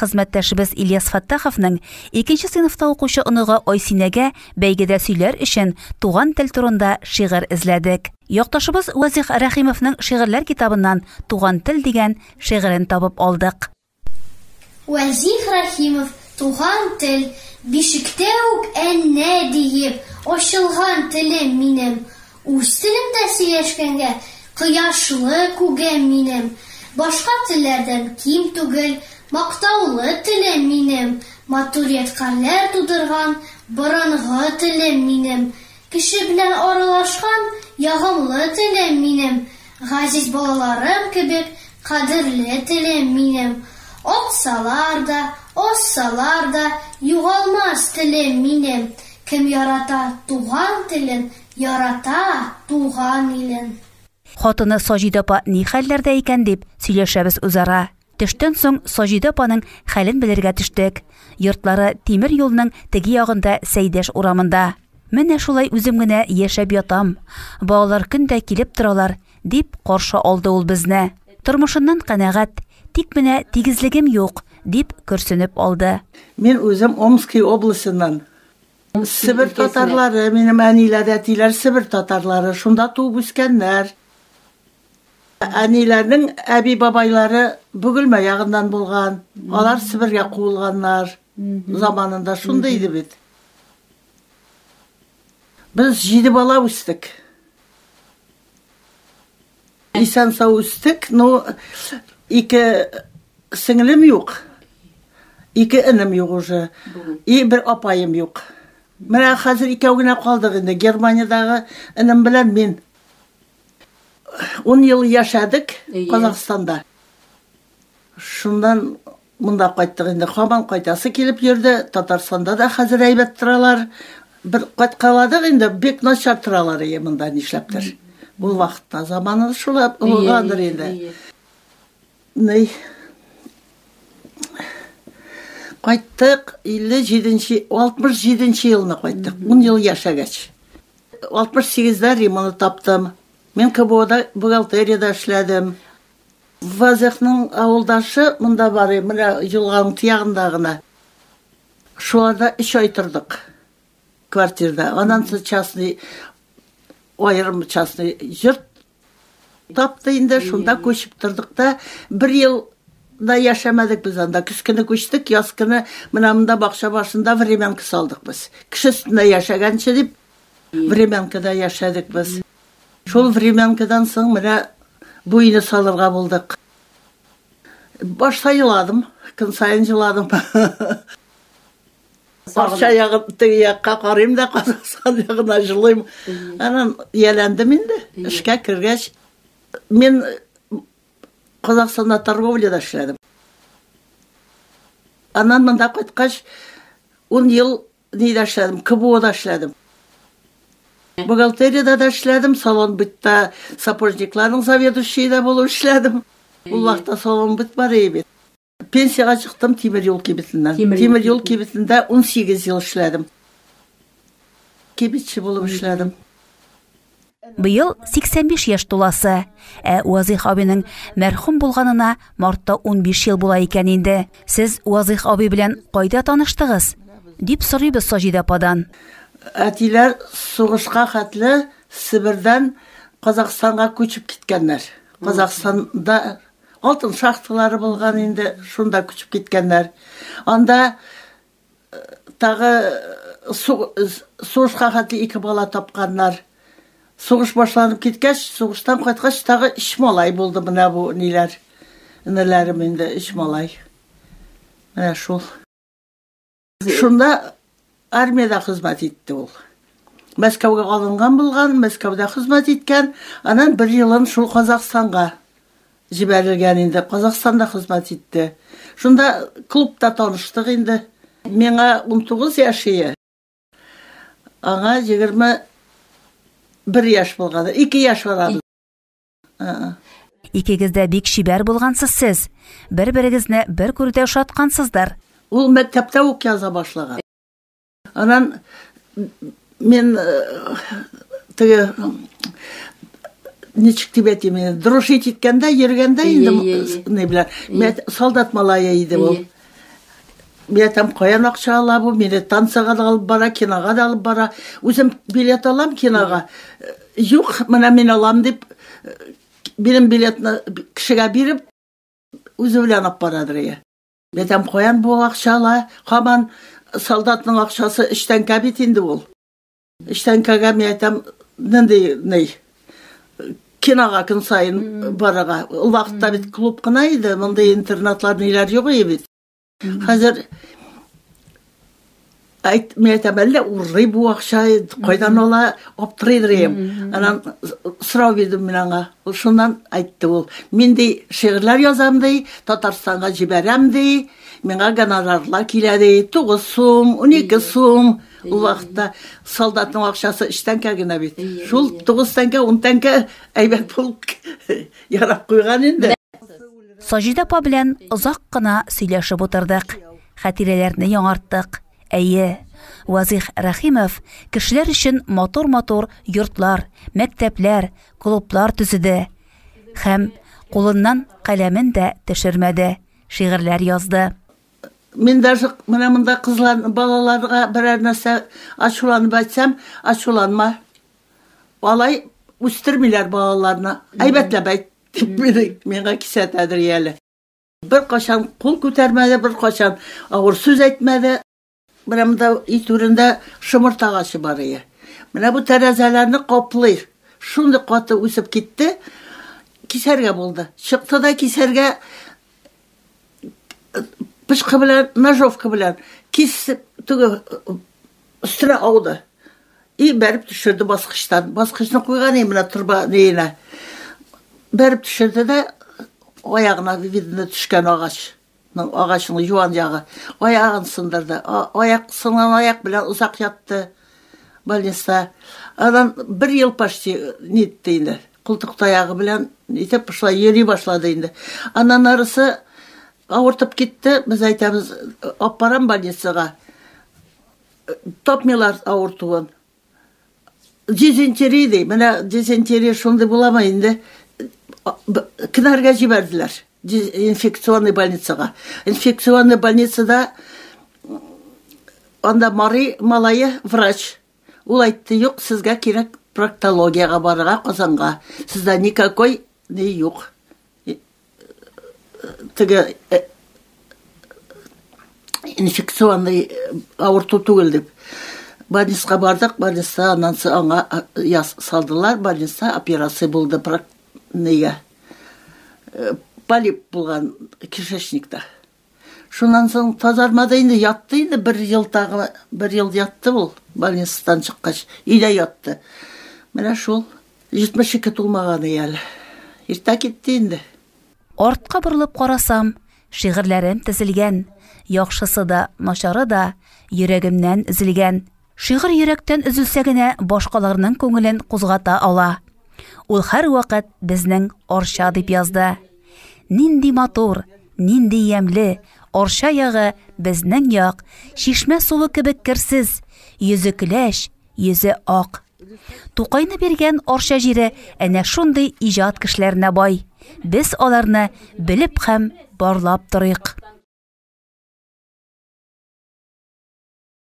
Хезмәттәшебез Ильяс Фаттаховның икенче сыйныфта укучы оныгы Айсинәгә бәйгедә сөйләр өчен туган тел турында шигырь эзләдек. Якташыбыз Вазих Рәхимовның шигырьләр китабыннан Туган тел дигән шигырен табып алдык. Вазих Рәхимов Туган тел, бишектә үк әннә диеп, ачылган телем минем, Үз телемдә сөйләшкәнгә, Кояшлы күгем минем, Башка телләрдән ким түгел, Мактаулы телем минем, Матур ядкарьләр тудырган, Борынгы телем минем, Кеше белән аралашкан, Ягымлы телем минем, Газиз балаларым кебек, Кадерле телем минем. Атсалар да, азсалар да, Югалмас телем минем, Кем ярата туган телен, Ярата туган илен. Хатыны Саҗидә апа ни хәлләрдә икән дип, сөйләшәбез үзара. Төштән соң Саҗидә апаның хәлен белергә төштек. Йортлары тимер юлның теге ягында Сәйдәш урамында. Менә шулай үзем генә яшәп ятам. Балалар көн дә килеп торалар, дип каршы алды ул безне. Тормышыннан канәгать, тик менә тигезлегем юк, дип көрсенеп алды. Мин үзем Омски областеннан, Себер татарлары, минем әниләр, әтиләр Себер татарлары, шунда туып үскәннәр. Әниләрнең әби бабайлары Бөгелмә ягыннан булган. Алар Себергә куылганнар заманында шундый иде бит. Без җиде бала үстек. Исән сау үстек, но ике сеңлем юк. Ике энем юк уже. И бер апаем юк. Менә хәзер икәү генә калдык инде. Германиядәге энем белән мин. 10 ел яшәдек Казахстанда. Шуннан монда кайттык инде. Хаман кайтасы килеп йөрде. Татарстанда да хәзер әйбәт торалар. Бер кайткаладык инде, бик начар торалар ие монда нишләптер. Ул вакытта заманы шулай булгандыр инде. Ни? Кайттык 57-нче, 67-нче елны кайттык. 10 ел яшәгәч. 68-дә Риманы таптым. Мин КБОда бухгалтериядә эшләдем. Вазыйхның авылдашы монда бар, менә елганың тиягында гына. Шуларда өч ай тордык квартирда. Аннан соң частный аерым частный йорт тапты инде, шунда күчеп тордык та, бер ел да яшәмәдек без анда. Көз көне күчтек, яз көне менә монда бакча башында времянка салдык без. Кеше өстендә яшәгәнче дип, времянкада яшәдек без. Шул времянкадан соң менә бу өйне салырга булдык. Башта еладым, көн саен җыладым. Акча ягын теге якка карыйм да, Казахстан ягына җылыйм. Анан ияләндем инде. Эшкә кергәч, мин Казахстанда торговляда эшләдем. Аннан монда кайткач, ун ел Нидә эшләдем? КБОда эшләдем. Бухгалтериядә дә эшләдем, салон бытта сапожникларның заведующие дә булып эшләдем. Ул вакытта салон быт бар иде бит. Пенсияга чыктым тимер юл кибетеннән. Тимер юл кибетендә 18 ел эшләдем. Кибетче булып эшләдем. Быел 85 яшь туласы. Ә Уазих абиның мәрхүм булганына мартта 15 ел була икән инде. Сез Уазих аби белән кайда таныштыгыз? дип сорыйбыз Саҗидә ападан. Әтиләр сугышка хәтле Себердән Казахстанга күчеп киткәннәр. Казахстанда алтын шахталары булган инде, шунда күчеп киткәннәр. Анда Тагы сугышка хәтле ике бала тапканнар. Сугыш башланып киткәч, сугыштан кайткач, тагы өч малай булды менә бу ниләр. Энеләрем инде өч малай. Менә шул. Шунда армиядә хезмәт итте ул. Мәскәүгә алынган булган, Мәскәүдә хезмәт иткән, аннан бер елын шул Казахстанга Җибәрелгән инде, Казахстанда хезмәт итте. Шунда клубта таныштык инде. Миңа унтугыз яшь ие, аңа егерме бер яшь булгадыр. Ике яшь арабыз. Ә-ә. Икегез дә бик чибәр булгансыз сез. Бер-берегезне бер күрүдә ошаткансыздыр. Ул мәктәптә үк яза башлаган. Анан мен теге ничек дип әйтим инде дружить иткәндә йөргәндә инде не белән мен солдат малае иде ул Мен там каян акча ала бу мине танцага да алып бара кинога да алып бара үзем билет алам кинога юк менә мин алам дип минем билетны кешегә биреп үзе белән алып барадыр иә Бәтәм каян бу акча ала? Хаман солдатның акчасы эчтәнкә бит инде ул. Эчтәнкәгә мин әйтәм, нинди ни? Кинога көн саен барырга. Ул вакытта бит клуб кына иде, мондый интернатлар ниләр юк иде бит. Хәзер Айт, мен әйтәм, әллә урый бу акча, кайдан ала, аптырый дирем. Анан сорау бирдем мин аңа. Ул шуннан айтты ул. Мин ди шигырьләр язам ди, Татарстанга җибәрәм ди. Миңа гонорарлар килә ди, 9 сум, 12 сум. Ул вакытта солдатның акчасы 3 тәңкә генә бит. Шул 9 тәңкә, 10 тәңкә әйбәт булып ярап куйган инде. Саҗидә апа белән озак кына сөйләшеп утырдык. Хәтирәләрне яңарттык. Әйе, Вазыйх Рәхимов кешеләр өчен матур-матур йортлар, мәктәпләр, клублар төзеде һәм кулыннан каләмен дә төшермәде, шигырьләр язды. Мин даже менә монда кызлар, балаларга берәр нәрсә ачуланып әйтсәм, ачуланма. Алай үстермиләр балаларны. Әйбәтләп әйт, дип миңа кисәтәдер яле. Беркайчан кул күтәрмәде, беркайчан авыр сүз әйтмәде. Менә монда өй түрендә шомырт агачы бар ие. Менә бу тәрәзәләрне каплый. Шундый каты үсеп китте, кисәргә булды. Чыкты да кисәргә пычкы белән, ножовка белән кисеп, теге Өстемә ауды. И бәреп төшерде баскычтан. Баскычны куйган и менә торба нейенә. Бәреп төшерде дә аягына видно төшкән агач. Агачның юан ягы. Аягын сындырды. Аяк сынган аяк белән озак ятты. Больниста. Анан бер ел почти нитте инде. Култык таягы белән итеп шулай йөри башлады инде. Аннан арысы авыртып китте, без әйтәбез, алып барам больницага. Тапмыйлар авыртуын. Дизентерия ди, менә дизентерия шундый буламы инде? Кенәргә җибәрделәр инфекционный больницага. Инфекционный больницада анда Мари малае врач Ул әйтте, Юк, сезгә кирәк проктологиягә барырга Казанга. Сездә никакой ни юк. Теге э, инфекционный авырту түгел дип. Больницага бардык, больница аннан соң аңа э, салдылар, больница операция булды нигә. Э, полип булган кишечникта. Шуннан соң тазармады инде, ятты инде бер ел тагы, бер ел ятты ул больницадан чыккач, өйдә ятты. Менә шул 72 тулмаган әле. Иртә китте инде. Артка борылып карасам, шигырьләрем тезелгән. Яхшысы да, начары да йөрәгемнән өзелгән. Шигырь йөрәктән өзелсә генә башкаларның күңелен кузгата ала. Ул һәрвакыт безнең Арча дип язды. Нинди матур, нинди ямьле, Арча ягы безнең як, чишмә суы кебек керсез, йөзе көләч, йөзе ак. Тукайны биргән Арча җире әнә шундый иҗат кешеләренә бай. Без аларны белеп һәм барлап торыйк.